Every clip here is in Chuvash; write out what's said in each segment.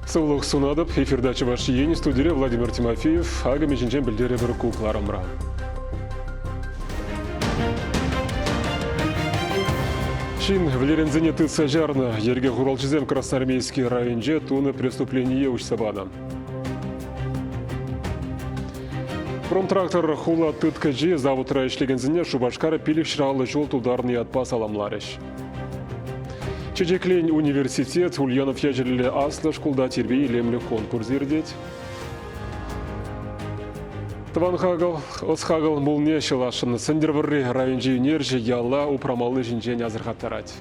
Сывлӑх сунатӑп эфирта Чӑваш Ен студире Владимир Тимофеев акӑмӗ ҫинчен пӗлтерӗпӗр ку кӑларӑмра. Ҫын вӗлеренсене тытса чарнӑ. Йӗрке хуралҫисем Красноармейски районӗнче тунӑ преступление уҫса панӑ. Промтрактор хула тыткӑчи заводра ӗҫлекенсене Шупашкар пилӗк ҫӑраллӑ ҫул тултарнӑ ятпа саламларӗҫ. Чечеклен университет Ульянов ячӗллӗ аслӑ шкулта тирпей-илемлӗ конкурс иртет. Тӑван хакӑл, ӑс-хакӑл мулне ҫӑласшӑн Сӗнтӗрвӑрри районӗнчи ӳнерҫӗ яла упрамалли ҫинчен асӑрхаттарать.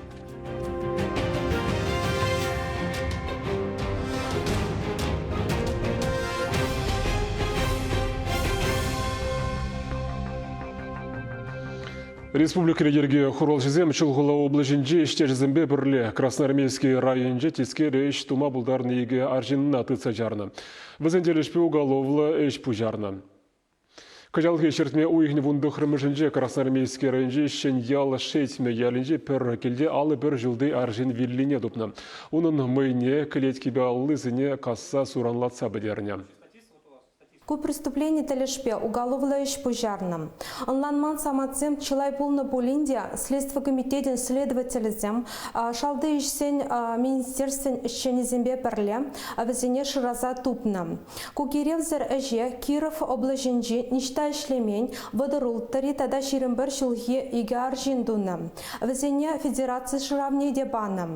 Республикӑри йӗрке хуралҫисем Чулхула облаҫӗнчи ӗҫтешӗсемпе пӗрле Красноармейски районӗнче тискер ӗҫ тума пултарнӑ икӗ арҫынна тытса чарнӑ. Вӗсен тӗлӗшпе уголовлӑ ӗҫ пуҫарнӑ. Кӑҫалхи ҫӗртме уйӑхӗн вун тӑхрӑмӗшӗнче Красноармейски районӗнчи Ҫӗньял Шетмӗ ялӗнчи пӗр килте алӑ пӗр ҫулти арҫын виллине тупнӑ. Унӑн мӑйне, кӗлеткипе аллисене касса суранлатса пӗтернӗ. Ку преступлени тӗлӗшпе уголовлӑ ӗҫ пуҫарнӑ. Ӑнланман самантсем чылай пулнӑ пулин те Следстви комитетӗн следователӗсем шалти ӗҫсен министерствин ӗҫченӗсемпе пӗрле вӗсене шыраса тупнӑ. Ку киревсӗр ӗҫе Киров облаҫӗнчи ниҫта ӗҫлемен вӑтӑр улттӑри тата ҫирӗм пӗр ҫулхи икӗ арҫын тунӑ. Вӗсене федераци шыравне те панӑ.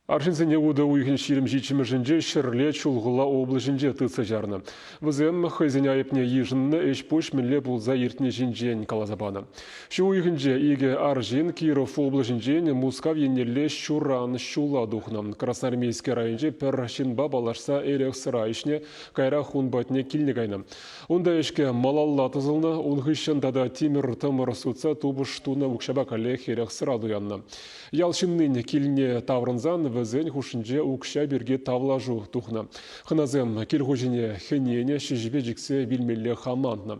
Арҫынсене утӑ уйӑхӗн ҫирӗм ҫиччӗмӗшӗнче Ҫӗрле, Чулхула облаҫӗнче тытса чарнӑ. Вӗсем хӑйсен айӑпне йышӑннӑ ӗҫ-пуҫ мӗнле пулса иртни ҫинчен каласа панӑ. Ҫу уйӑхӗнче икӗ арҫын Киров облаҫӗнчен Мускав еннелле ҫуран ҫула тухнӑ. Красноармейски районӗнче пӗр ҫынпа паллашса эрех-сӑра ӗҫне каярах ун патне килне кайнӑ. Унта ӗҫке малалла тӑсӑлнӑ, ун хыҫҫӑн тата тимӗр-тӑмӑр сутса тупӑш тунӑ укҫапа каллех эрех-сӑра туяннӑ. Ял ҫыннин килне таврӑнсан вӗсен хушшинче укҫа пирки тавлашу тухнӑ. Хӑнасем кил хуҫине хӗненӗ ҫӗҫӗпе чиксе вилмелле хамланнӑ.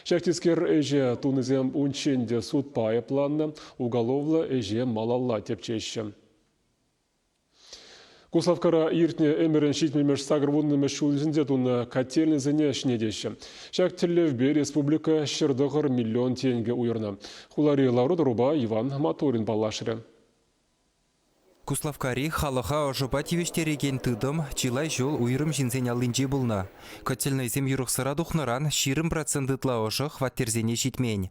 Ҫак тискер ӗҫе тунисем унччен те судпа айӑпланнӑ, уголовлӑ ӗҫе малалла тӗпчеҫҫӗ. Куславккара иртнӗ ӗмӗрӗн ҫитмӗлмӗш сакӑрвуннӑмӗш ҫулӗсенче тунӑ котельнӑйсене ҫӗнетеҫҫӗ. Ҫак тӗллевпе республика ҫӗр тӑхӑр миллион тенкӗ уйӑрнӑ. Хулари лару-тӑрупа Иван Матурин паллашрӗ. Куславккари халӑха ӑшӑпа тивӗҫтерекен тытӑм чылай ҫул уйрӑм ҫынсен аллинче пулнӑ. Котельнӑйсем юрӑхсӑра тухнӑран ҫирӗм процент ытла ӑшӑ хваттерсене ҫитмен.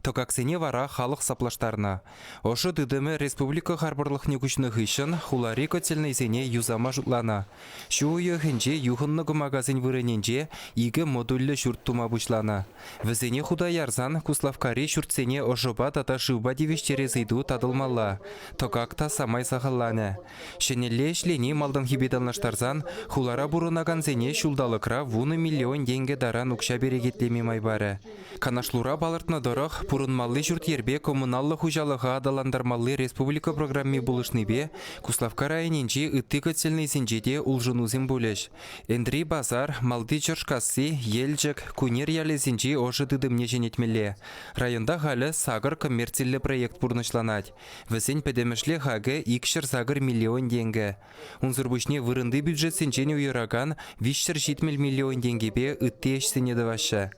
Тӑкаксене вара халӑх саплаштарнӑ. Ӑшӑ тытӑмӗ республика харпӑрлӑхне куҫнӑ хыҫҫӑн хулари котельнӑйсене юсама шутланӑ. Ҫу уйӑхӗнче юхӑннӑ кӑмакасен вырӑнӗнче икӗ модульлӗ ҫурт тума пуҫланӑ. Вӗсене хута ярсан Куславккари ҫуртсене ӑшӑпа тата шывпа тивӗҫтерес ыйту татӑлмалла. Тӑкак та самай сахалланӗ. Ҫӗнӗлле ӗҫлени малтанхипе танлаштарсан хулара пурӑнакансене ҫулталӑкра вунӑ миллион тенкӗ таран укҫа перекетлеме май парӗ. Канашлура палӑртнӑ тӑрӑх, пурӑнмалли ҫурт-йӗрпе коммуналлӑ хуҫалӑха аталантармалли республика программи пулӑшнипе Куславкка районӗнчи ытти котельнӑйсенче те улшӑнусем пулӗҫ. Энтри Пасар, Малти Чӑршкасси, Елчӗк, Кунер ялӗсенчи ӑшӑ тытӑмне ҫӗнетмелле. Районта халӗ сакӑр коммерциллӗ проект пурнӑҫланать. Вӗсен пӗтӗмӗшле хакӗ икҫӗр сакӑр миллион тенкӗ. Унсӑр пуҫне вырӑнти бюджетсенчен уйӑракан виҫсӗр ҫитмӗл миллион тенкӗпе ытти ӗҫсене тӑваҫҫӗ.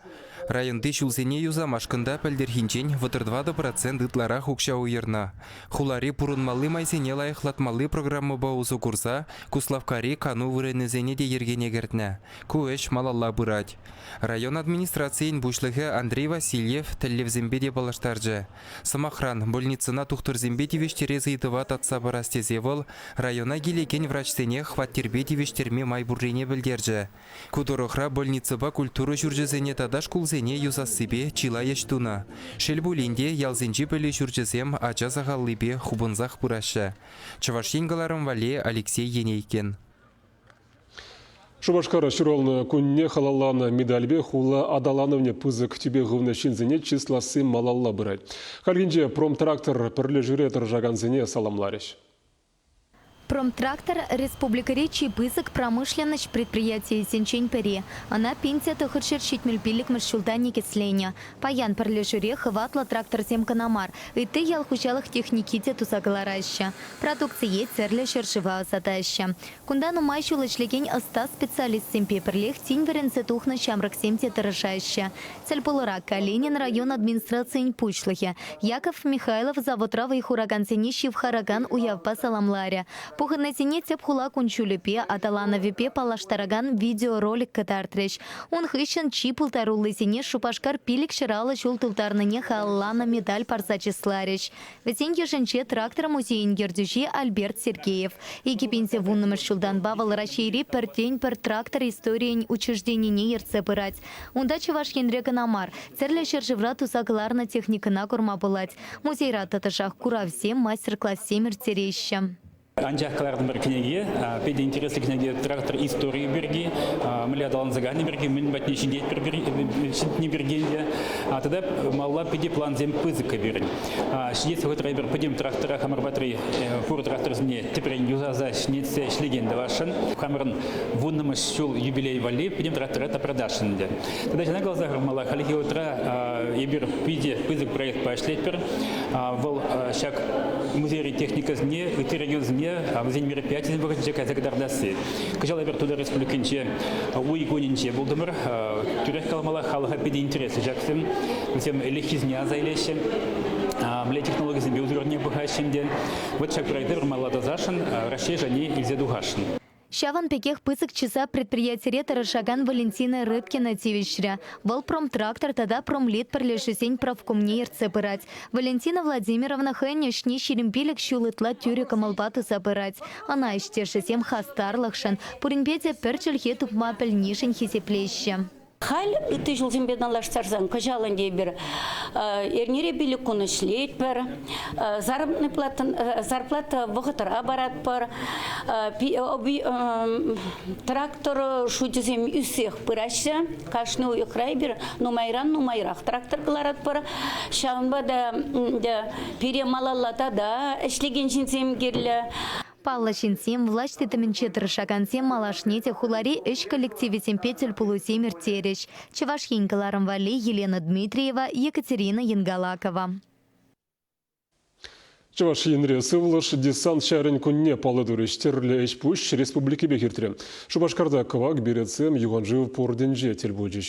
Районти ҫулсене юсамашкӑн та пӗлтӗрхинчен вӑтӑр тӑватӑ процент ытларах укҫа уйӑрнӑ. Хулари пурӑнмалли майсене лайӑхлатмалли программӑпа усӑ курса Куславккари кану вырӑнӗсене те йӗркене кӗртнӗ. Ку ӗҫ малалла пырать. Район администрацийӗн пуҫлӑхӗ Андрей Васильев тӗллевсемпе те паллаштарчӗ. Сӑмахран, больницӑна тухтӑрсемпе тивӗҫтерес ыйтӑва татса парас тесе вӑл района килекен врачсене хваттерпе тивӗҫтерме май пуррине пӗлтерчӗ. Ку тӑрӑхра больницӑпа культура ҫурчӗсене тата шкулсене юсассипе чылай ӗҫ тунӑ. Шел пулин те, ялсенчи пӗлӳ ҫурчӗсем ача сахаллипе хупӑнсах пыраҫҫӗ. Чӑваш Ен кӑларӑм валли, Алексей Енейкин. Шупашкара ҫуралнӑ кунне халалланӑ медальпе хула аталанӑвне пысӑк тӳпе хывнӑ ҫынсене чысласси малалла пырать. Хальхинче Промтрактор пӗрлешӳре тӑрӑшакансене саламларӗҫ. Промтрактор республикӑри чи пысӑк промышленноҫ предприятийӗсенчен пӗри. Ӑна пин те тӑхӑр ҫӗр ҫитмӗл пиллӗкмӗш ҫулта никӗсленӗ. Паян пӗрлешӳре хӑватлӑ тракторсем кӑна мар, ытти ял хуҫалӑх техники те туса кӑлараҫҫӗ, продукцие тӗрлӗ ҫӗршыва ӑсатаҫҫӗ. Кунта нумай ҫул ӗҫлекен ӑста специалистсемпе пӗрлех тин вӗренсе тухнӑ ҫамрӑксем те тӑрӑшаҫҫӗ, тӗлпулура Калинин район администрацийӗн пуҫлӑхӗ Яков Михайлов заводра вӑй хуракансене ҫывхаракан уявпа саламларӗ, пухӑннисене тӗп хула кун-ҫулӗпе, аталанӑвӗпе паллаштаракан видеоролик кӑтартрӗҫ, Ун хыҫҫӑн чи пултаруллисене Шупашкар пилӗк ҫӑраллӑ ҫул тултарнине халалланӑ медаль парса чысларӗҫ. Вӗсен йышӗнче трактор музейӗн ертӳҫи Альберт Сергеев. вуннӑмӗш ҫултанпа вӑл Раҫҫейри пӗртен-пӗр трактор историйӗн учрежденине ертсе пырать. Унта Чӑваш Енре кӑна мар, тӗрлӗ ҫӗршывра туса кӑларнӑ техникӑна курма пулать. Музейра тӑтӑшах куравсем, мастер-классем ирттереҫҫӗ. Анчах кӑлартӑмӑр кӗнеке питӗ интереслӗ кӗнеке трактор историйӗ пирки, мӗнле аталанса кайни пирки, мӗн патне ҫитетпӗр ҫитни пирки те. Тата малла питӗ плансем пысӑккӑ пирӗн. Ҫитес вӑхӑтра эпир пӗтӗм трактора хамӑр патри пур тракторсене тӗпрен юсаса ҫӗнетсе ӗҫлекен тӑвасшӑн. Хамӑрӑн вуннӑмӗш ҫул юбилей валли пӗтӗм трактора та продашӑн ӗнтӗ. Тата ҫавна каласа хӑвармалла, хальхи вӑхӑтра эпир питӗ пысӑк проектпа ӗҫлетпӗр. Вӑл ҫак музей техникӑсене, ытти регионсене вӗсен мероприятийӗсен вӑхӑтӗнче кайса кӑтартасси. Кӑҫал эпир Тутар Республикинче уй кунӗнче пултӑмӑр. Тӳрех каламалла, халӑха питӗ интереслӗ ҫаксем. Вӗсем ӗлӗкхисене аса илеҫҫӗ, мӗнле технологисемпе усрани пӑхаҫҫӗ ӗнтӗ. Вӑт ҫак проекта вырмалла тасашӑн, Раҫҫей шайне илсе тухасшӑн. Ҫавӑн пекех пысӑк чыса предприятире тӑрӑшакан Валентина Рыбкина тивӗҫрӗ. Вӑл Промтрактор тата Промлит пӗрлешӳсен профкомне ертсе пырать. Валентина Владимировна хӑйӗн ӗҫне ҫирӗм пилӗк ҫул ытла тӳрӗ кӑмӑлпа туса пырать. Ӑна ӗҫтешӗсем хастарлӑхшӑн, пуринпе те пӗр чӗлхе тупма пӗлнишӗн хисеплеҫҫӗ. Халь ытти ҫулсемпе танлаштарсан кӑҫал ӗнтӗ эпир эрнере пилӗк кун ӗҫлетпӗр, заработный зарплата вӑхӑтра паратпӑр. Трактор шучӗсем ӳссех пыраҫҫӗ. Кашни уйӑхра эпир нумайран-нумайрах трактор кӑларатпӑр. Ҫавӑнпа та пире малалла тата ӗҫлекен ҫынсем кирлӗ. Паллӑ ҫынсем, влаҫ тытӑмӗнче тӑрӑшакансем малашне те хулари ӗҫ коллективӗсемпе тӗл пулусем ирттерӗҫ, Чӑваш Ен кӑларӑм валли Елена Дмитриева, Екатерина Енгалакова. Чӑваш Енре сывлӑш десант ҫарӗн кунне паллӑ турӗҫ. Тӗрлӗ ӗҫ-пуҫ республикипех иртрӗ. Шупашкарта кӑвак беретсем юханшыв портӗнче тӗл пулчӗҫ.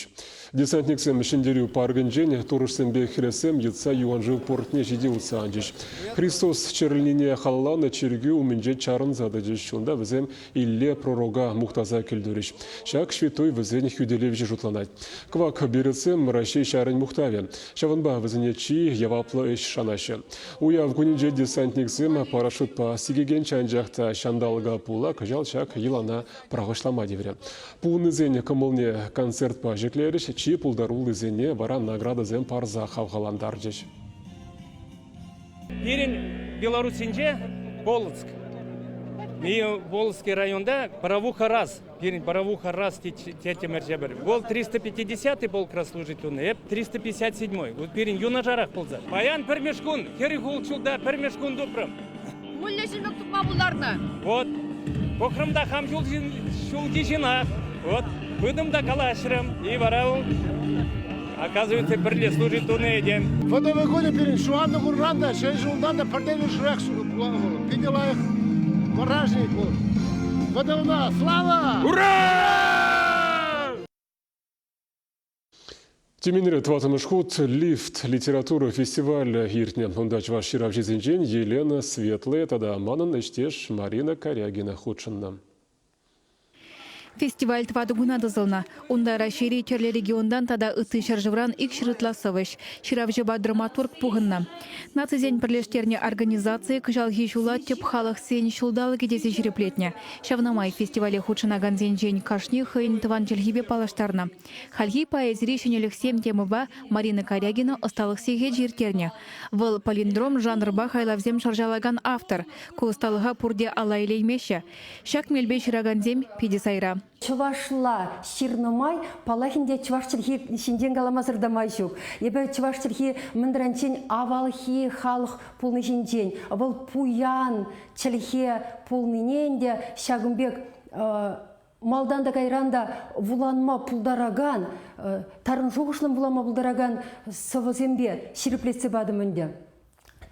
Десантниксем Ҫӗнтерӳ паркӗнчен турӑшсемпе хӗресем йӑтса юаншыв портне ҫити утса анчӗҫ. Христос чӗрӗлнине халалланӑ чиркӳ умӗнче чарӑнса тӑчӗҫ. Унта вӗсем Илле пророка мухтаса кӗлтурӗҫ. Ҫак ҫветтуй вӗсен хӳтӗлевҫи шутланать. Кӑвак беретсем Раҫҫей ҫарӗн мухтавӗ. Ҫавӑнпа вӗсене чи яваплӑ ӗҫ шанаҫҫӗ. Уяв кунӗнче десантниксем парашютпа сикекен чанчах та ҫанталӑка пула кӑҫал ҫак йӑлана пӑрахӑҫлама тиврӗ. Пухӑннисен кӑмӑлне концертпа ҫӗклерӗҫ, чи пултаруллисене вара наградӑсем парса хавхалантарчӗҫ. Пирӗн Белоруссинче Волжск. Волжский районта Боровуха раз, пирӗн Боровуха раз тетӗмӗр ҫӗпӗр. Вӑл 350 полкра служить тунӑ, эп 357. Вот пирӗн юнашарах пулса. Паян пӗрмеш кун, хӗрӗх ултҫулта пӗрмеш кун тупрӑм. Мӗнле ҫӗнӗлӗх тупма пултарнӑ? Вот, пӑхрӑм та хам ҫулхи ҫынах. Вот, пытӑм та калаҫрӑм, и вара вӑл, оказывается, пӗрле служить тунӑ этем. Фотовый кунӗ пирӗн ҫухатнӑ кунран та, ҫӗн ҫултан та пӗртен-пӗршӗрех пулан вӑл. Питӗ лайӑх мурашник вӑл. ВТУна слава! Ура! Тюменьре тӑваттӑмӗш хут Лифт литература фестивалӗ иртнӗ. Унта чӑваш ҫыравҫисенчен Елена Светлая тата манӑн ӗҫтеш Марина Корягина хутшӑннӑ. Фестиваль тӑватӑ куна тӑсӑлнӑ. Унта Раҫҫейри тӗрлӗ регионтан тата ытти ҫӗршывран икҫӗр ытла сӑвӑҫ, ҫыравҫӑпа драматург пухӑннӑ. Нацисен пӗрлештернӗ организацийӗ кӑҫалхи ҫула тӗп халӑхсен ҫулталӑкӗ тесе ҫирӗплетнӗ. Ҫавна май фестивале хутшӑнакансенчен кашни хӑйӗн тӑван чӗлхипе паллаштарнӑ. Хальхи поэзири ҫӗнӗлӗхсем темӑпа Марина Корягина ӑсталӑх сехечӗ ирттернӗ. Вӑл палиндром жанрпа хайлавсем шӑрҫалакан автор. Ку ӑсталӑха пурте ала илеймеҫҫӗ. Ҫак мелпе ҫыракансем питӗ сайра. Чӑвашла ҫырнӑ май паллах ӗнтӗ чӑваш чӗлхи ҫинчен каламасӑр та май ҫук. Эпӗ чӑваш чӗлхи мӗнранччен авалхи халӑх пулни ҫинчен, вӑл пуян чӗлхе пулнине ӗнтӗ ҫакӑн пек Малтан та кайран та вуланма пултаракан, тарӑн шухӑшлӑн вулама пултаракан сӑвӑсемпе ҫирӗплетсе патӑм ӗнтӗ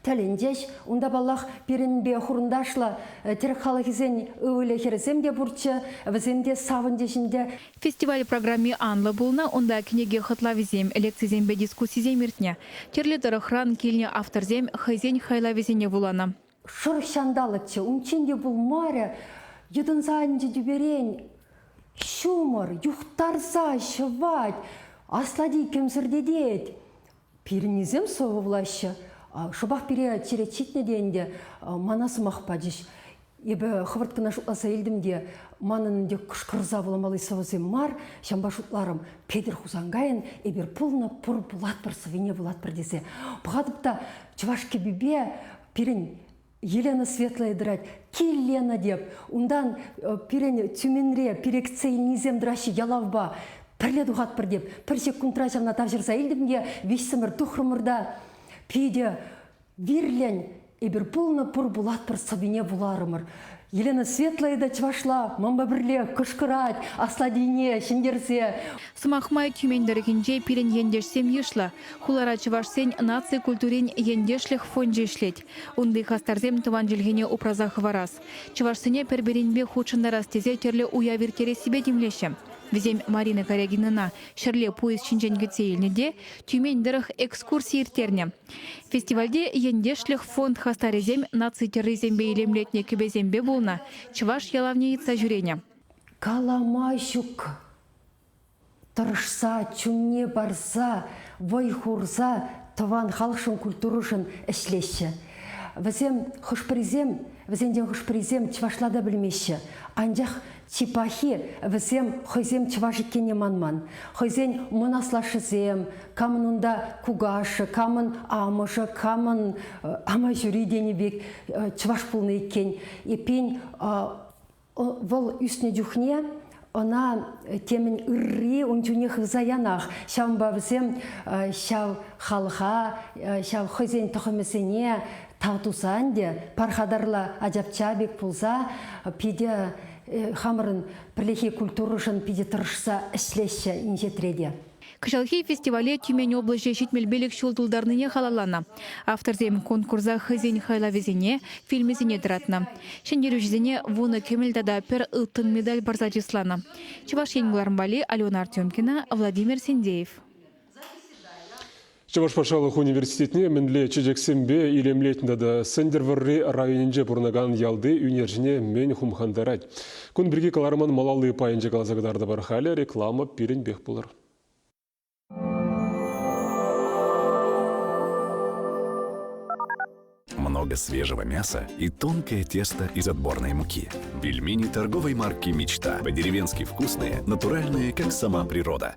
тӗлӗнчӗҫ. Унта, паллах, пирӗнпе хурӑнташла э, тӗрек халӑхӗсен ывӑлӗ-хӗрӗсем те пурччӗ, вӗсем те савӑнчӗҫ ӗнтӗ. Фестиваль программи анлӑ пулнӑ, унта кӗнеке хӑтлавӗсем, лекцисемпе дискуссисем иртнӗ. Тӗрлӗ тӑрӑхран килнӗ авторсем хӑйсен хайлавӗсене вуланӑ. Шӑрӑх ҫанталӑкчӗ, унччен те пулмарӗ, йӑтӑнса анчӗ тӳперен. Ҫумӑр юхтарса ҫӑвать, аслати кӗмсӗртетет. Пирӗннисем сывлаҫҫӗ. Шӑпах пире черет ҫитнӗ те ӗнтӗ, мана сӑмах пачӗҫ. Эпӗ хӑвӑрт кӑна шутласа илтӗм те, манӑн ӗнтӗ кӑшкӑрса вуламалли сӑвӑсем мар, ҫавӑнпа шутларӑм, Петӗр Хусанкайӑн эпир пулнӑ, пур, пулатпӑр, сӑвине вулатпӑр тесе. Пӑхатӑп та, чӑваш кӗпипе пирӗн Елена Светлая тӑрать, Киллена теп, унтан э, пирӗн Тюменре перексе илнисем тӑраҫҫӗ ялавпа, пӗрле тухатпӑр теп, пӗр ҫеккунтра ҫавна тавҫӑрса илтӗм те виҫсӗмӗр тухрӑмӑр та питӗ вирлӗн эпир пулнӑ пур пулатпӑр сӑвине вуларӑмӑр. Елена Светлая та чӑвашла мампа пӗрле кӑшкӑрать, аслатине ҫӗнтерсе. Сӑмах май, Тюмень тӑрӑхӗнче пирӗн ентешсем йышлӑ. Хулара чӑвашсен наци культурин ентешлӗх фончӗ ӗҫлет. Унти хастарсем тӑван чӗлхене упраса хӑварас, чӑвашсене пӗр-пӗринпе хутшӑнтарас тесе тӗрлӗ уяв ирттерессипе тимлеҫҫӗ. Вӗсем Марина Карягинӑна ҫӗрле поезд ҫинчен кӗтсе илнӗ те Тюмень тӑрӑх экскурси ирттернӗ. Фестивальте ентешлӗх фонд хастарӗсем наци тӗррисемпе илемлетнӗ кӗпесемпе пулнӑ чӑваш ялавне йӑтса ҫӳренӗ. Калама ҫук. Тӑрӑшса, чунне парса, вӑй хурса тӑван халӑхшӑн, культурӑшӑн ӗҫлеҫҫӗ. Вӗсем хӑш-пӗрисем, вӗсенчен хӑш-пӗрисем чӑвашла та пӗлмеҫҫӗ, анчах Чи пахи, вӗсем хӑйсем чӑваш иккенне манман. Хӑйсен мӑн аслашшӗсем, камӑн унта кукашшӗ, камӑн амӑшӗ, камӑн амаҫури тенӗ пек чӑваш пулнӑ иккен. Эппин, вӑл ӳснӗ чухне ӑна темӗн ырри ун чухне хывса янах. Ҫавӑнпа вӗсем ҫав халӑха, ҫав хӑйсен тӑхӑмӗсене Тав тусан те пархатарла ачапча пек пулса питӗ э, хамӑрӑн пӗрлехи культурӑшӑн питӗ тӑрӑшса ӗҫлеҫҫӗ инҫетре те. Кӑҫалхи фестивале Тюмень облаҫӗ ҫитмӗл пилӗк ҫул тултарнине халалланӑ. Авторсем конкурса хӑйсен хайлавӗсене, фильмӗсене тӑратнӑ. Ҫӗнтерӳҫӗсене вунӑ кӗмӗл тата пӗр ылтӑн медаль парса чысланӑ. Чӑваш Ен вӑлармалли Алена Артемкина, Владимир Синдеев. Чӑваш патшалӑх университетне мӗнле чечексемпе илемлетнӗ тата Сӗнтӗрвӑрри районӗнче пурӑнакан ялти ӳнерҫӗне мӗн хумхантарать? Кун пирки кӑларман малалли пайӗнче каласа кӑтартӑпӑр. Халӗ реклама пирӗнпех пулӑр. много свежего мяса и тонкое тесто из отборной муки. Пельмени торговой марки «Мечта» по-деревенски вкусные, натуральные, как сама природа.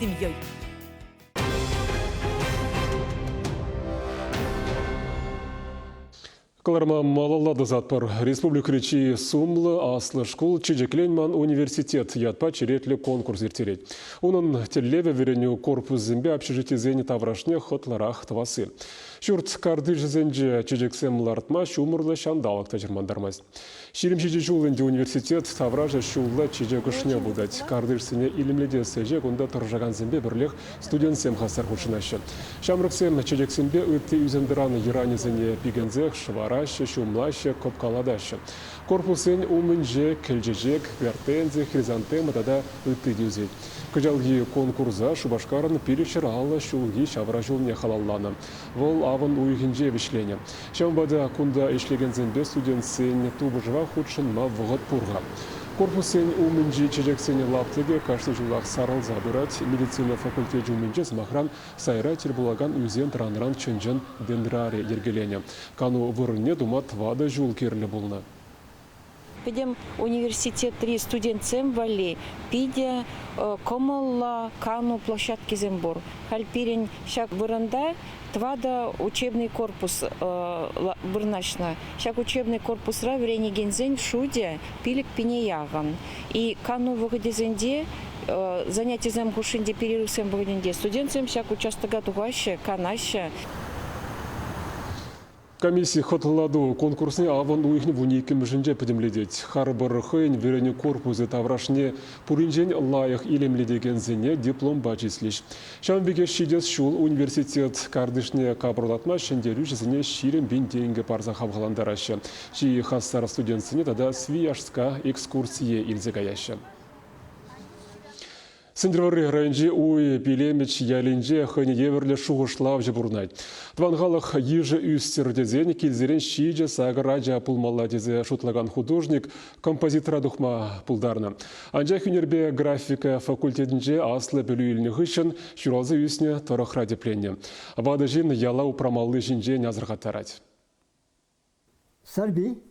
семьей. Кӑларма малалла тӑсатпӑр. Республикӑри чи сумлӑ аслӑ шкул Чечеклен ман университет ятпа черетлӗ конкурс ирттерет. Унӑн тӗллевӗ вӗренӳ корпусӗсемпе общежитисен таврашне хӑтлӑрах тӑвасси. Ҫурт картишӗсенче чечексем лартма ҫумӑрлӑ ҫанталӑк та чӑрмантармасть. Ҫирӗм ҫичӗ ҫул ӗнтӗ университет таврашӗ ҫулла чечек ӑшне путать. Картишсене илемлетес ӗҫе кунта тӑрӑшакансемпе пӗрлех студентсем хастар хутшӑнаҫҫӗ. Ҫамрӑксем чечексемпе ытти ӳсентӑран йӑранӗсене пикенсех шӑвараҫҫӗ, ҫумлаҫҫӗ, кӑпкалатаҫҫӗ. Корпуссен умӗнче кӗлчечек, гортензи, хризантема тата ытти те ӳсет. Кӑҫалхи конкурса Шупашкарӑн пилӗк ҫӗр аллӑ ҫулхи ҫавра ҫулне халалланӑ. Вӑл авӑн уйӑхӗнче вӗҫленӗ. Ҫавӑнпа та кунта ӗҫлекенсемпе студентсен тупӑшӑва хутшӑнма вӑхӑт пур-ха. Корпуссен умӗнчи чечексен лаптӑкӗ кашни ҫулах сарӑлса пырать. Медицина факультечӗ умӗнче, сӑмахран, сайра тӗл пулакан ӳсен-тӑранран чӑн-чӑн дендрарий йӗркеленӗ. Кану вырӑнне тума тӑватӑ ҫул кирлӗ пулнӑ. Пӗтӗм университетри студентсем валли питӗ кӑмӑллӑ кану площадкисем пур. Халь пирӗн ҫак вырӑнта тӑватӑ учебный корпус вырнаҫнӑ. Ҫак учебный корпусра вӗренекенсен шутӗ пилӗк пине яхӑн. И кану вӑхӑтӗсенче занятисем хушшинче перерывсем вӑхӑтӗнче студентсем ҫак участока тухаҫҫӗ, канаҫҫӗ. Комисси хӑтлӑлату конкурсне авӑн уйӑхӗн вун иккӗмӗшӗнче пӗтӗмлетет. Харпӑр хӑйӗн вӗренӳ корпусӗ таврашне пуринчен лайӑх илемлетекенсене дипломпа чыслӗҫ. Ҫавӑн пекех ҫитес ҫул университет картишне капӑрлатма ҫӗнтерӳҫӗсене ҫирӗм пин тенкӗ парса хавхалантараҫҫӗ, чи хастар студентсене тата Свияжска экскурсие илсе каяҫҫӗ. Сӗнтӗрвӑрри районӗнчи Уй Пилемич ялӗнче хӑйне евӗрлӗ шухӑшлавҫӑ пурӑнать. Тӑван халӑх йышӗ ӳстӗр тесен килсерен ҫичӗ сакӑр ача пулмалла тесе шутлакан художник композитора тухма пултарнӑ. Анчах ӳнерпе графика факультетӗнче аслӑ пӗлӳ илнӗ хыҫҫӑн ҫуралса ӳснӗ тӑрӑхра тӗпленнӗ. Ватӑ ҫын яла упрамалли ҫинчен асӑрхаттарать. Сарпи,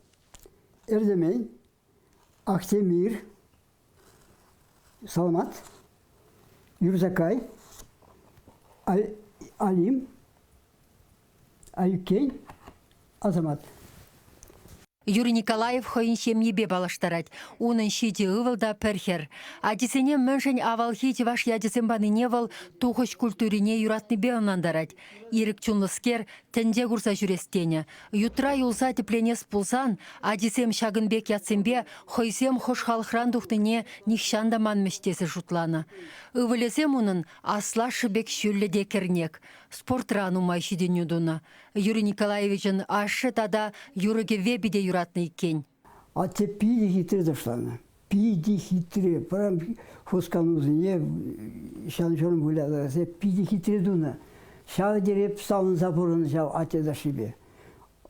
Эртемен, Ахтемир, Саламат, Юрсакай, Алим, Айккен, Асамат. Юрий Николаев хӑйӗн ҫемйипе паллаштарать. Унӑн ҫичӗ ывӑл та пӗр хӗр. Ачисене мӗншӗн авалхи чӑваш ячӗсем панине вӑл тухӑҫ культурине юратнипе ӑнлантарать. Ирӗк чунлӑскер тӗнче курса ҫӳрес тенӗ. Ютра юлса тӗпленес пулсан, ачисем ҫакӑн пек ятсемпе хӑйсем хӑш халӑхран тухнине нихҫан та манмӗҫ тесе шутланӑ. Ывӑлӗсем унӑн аслашшӗ пек ҫӳллӗ те кӗрнек. Спортра нумай ҫитӗнӳ тунӑ. Юрий Николаевичӑн ашшӗ тата юрӑ-кӗвве питӗ юратнӑ иккен. Атте питӗ хитре ташланӑ. Питӗ хитре. Пӑрам хусканусене ҫан-ҫурӑм вылятарса питӗ хитре тунӑ. Ҫав тери савӑнса пурӑннӑ ҫав атте ташлипе.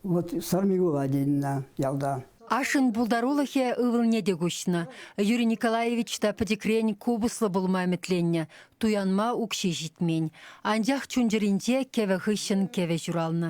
Вот Сармигула тенӗ ялта. Ашшӗн пултарулӑхӗ ывӑлне те куҫнӑ. Юрий Николаевич та пӗчӗкрен купӑслӑ пулма ӗмӗтленнӗ, туянма укҫи ҫитмен. Анчах чун-чӗринче кӗвӗ хыҫҫӑн кӗвӗ ҫуралнӑ.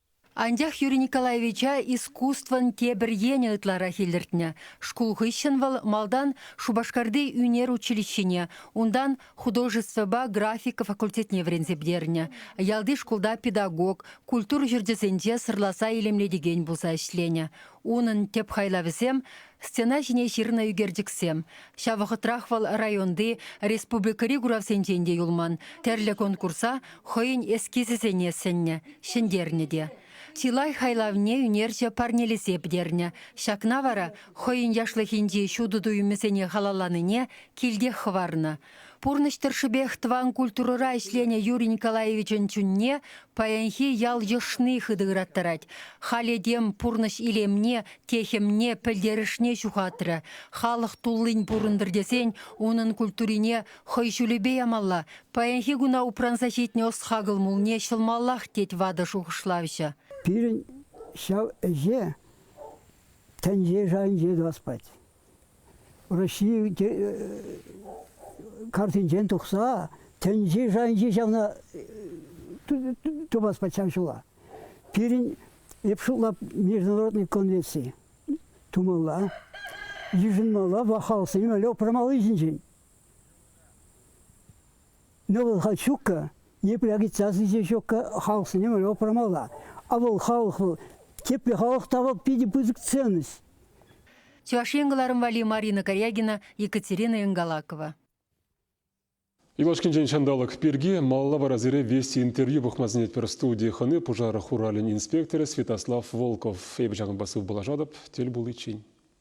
Анчах Юрий Николаевича искусствӑн тепӗр енӗ ытларах илӗртнӗ. Шкул хыҫҫӑн вӑл малтан Шупашкарти ӳнер училищине, унтан художествӑпа графика факультетне вӗренсе пӗтернӗ. Ялти шкулта педагог, культура ҫурчӗсенче сӑрласа илемлетекен пулса ӗҫленӗ. Унӑн тӗп хайлавӗсем Стена ҫине ҫырнӑ ӳкерчӗксем. Ҫав вӑхӑтрах вӑл районти, республикӑри куравсенчен те юлман. Тӗрлӗ конкурса хӑйӗн эскизӗсене сӗннӗ, ҫӗнтернӗ те. Чылай хайлавне ӳнерҫӗ парнелесе пӗтернӗ. Ҫакна вара хӑйӗн яшлӑхӗнчи ҫутӑ туйӑмӗсене халалланине килтех хӑварнӑ. Пурнӑҫ тӑршшӗпех тӑван культурӑра ӗҫленӗ Юрий Николаевичӑн чунне паянхи ял йӑшни хытӑ ыраттарать. Халь этем пурнӑҫ илемне, техӗмне, пӗлтерӗшне ҫухатрӗ. Халӑх туллин пурӑнтӑр тесен унӑн культурине хӑй ҫулӗпе ямалла, паянхи куна упранса ҫитнӗ ӑс-хакӑл мулне ҫӑлмаллах, тет ватӑ шухӑшлавҫӑ. Пирӗн ҫав ӗҫе тӗнче шайӗнче тӑвас пать. Раҫҫей картинчен тухса тӗнчи-шанчи ҫавна тупас пачах ҫула. Пирӗн эп шутла международный конвенци тумалла, йышӑнмалла, вахалсем упрамалли ҫинчен. Но вӑл Хачука, епле отрицательнӑй ҫокка халӑхсене мӗнле памалла. А вӑл халӑх вӑл тепле халӑх тава питӗ пысӑк ценность. Чӑваш Ен кӑларӑм валли Марина Корягина, Екатерина Ингалакова. Юлашкинчен ҫанталӑк пирки малалла вара сире Вести интервью пӑхма сӗнетпӗр. Студи хӑни пушар хуралӗн инспекторӗ Святослав Волков. Эпӗ ҫакӑнпа сывпуллашатӑп тӗл пуличчен.